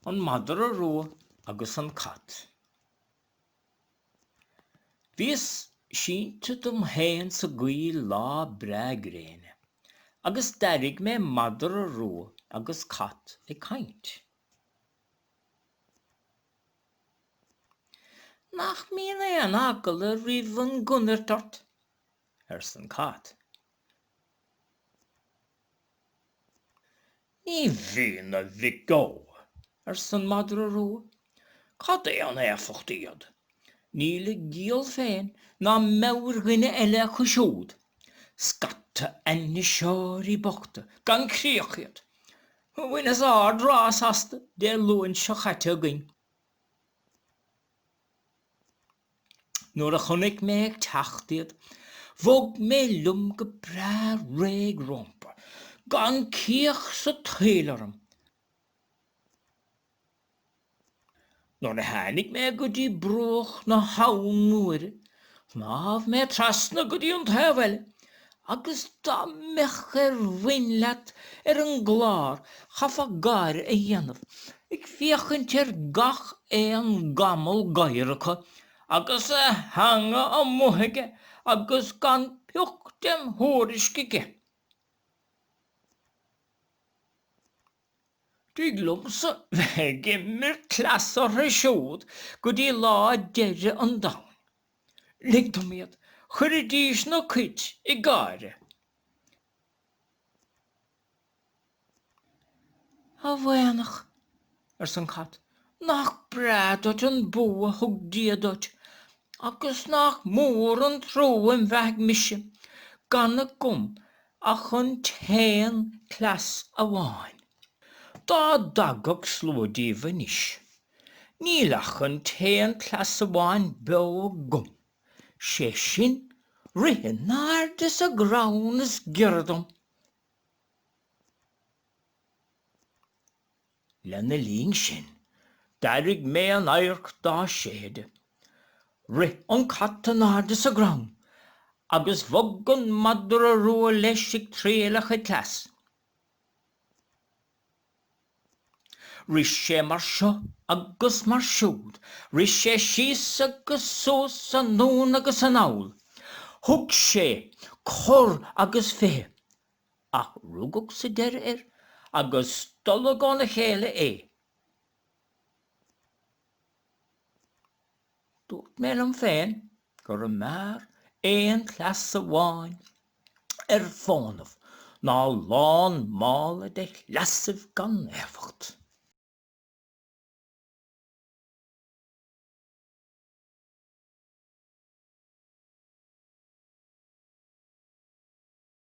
An madra rua agus an cat. Bhíos sínte dom féin sa gcoill lá breá gréine agus d'airigh mé madra rua agus cat ag caint. Nach mbíonn aon eagla roimh an gconairt ort? arsa an cat. Ní bhíonn a mhic ó, arsa an madra rua. Cad é an éifeacht iad? Níl a gciall féin ná meabhair dhuine eile acu siúd. Scata ainniseoirí bochta gan chríoch iad. Bhaineas ard rás astu Dé Luain seo chaite againn. Nuair a chonaic mé ag teacht iad bhog mé liom go breá réidh rompu gan cíoch sa tsaol orm. Nuair a tháinig mé go dtí bruach na habhann nuair a shnámh mé trasna go dtí an taobh eile agus dá mbeadh ar bhain leat ar an gclár chaithfeá gáire a dhéanamh ag féachaint ar gach aon gamal gadhair acu agus a theanga amuigh aige agus gan pioc dem thuairisc aige. Tig liomsa bheith ag imirt cleas orthu siúd go dtí lá deireadh an domhain. Lig dom iad, chuirfidís na cait ag gáire. A mhaoineach, arsa an cat, Nach breá duit an bua a thug Dia duit agus nach mór an trua ina bheathaidh mise gan agam ach an t-aon cleas amháin. Dá dtagadh slua díobh anois, níl ach an t-aon cleas amháin beo agam, sé sin, rith in airde sa gcrann is giorra dom. Lena linn sin, d'airigh mé an adharc dá séideadh. Rith an cat in airde sa gcrann agus bhog an madra rua leis ag triail a chuid cleas. Rith sé mar seo agus mar siúd, rith sé síos agus suas, anonn agus anall. Thug sé cor agus fiche. ach rugadh sa deireadh air agus stolladh óna chéile é. Dúirt mé liom féin go mb'fhearr aon chleas amháin ar fónamh ná lán mála de chleasaibh gan éifeacht.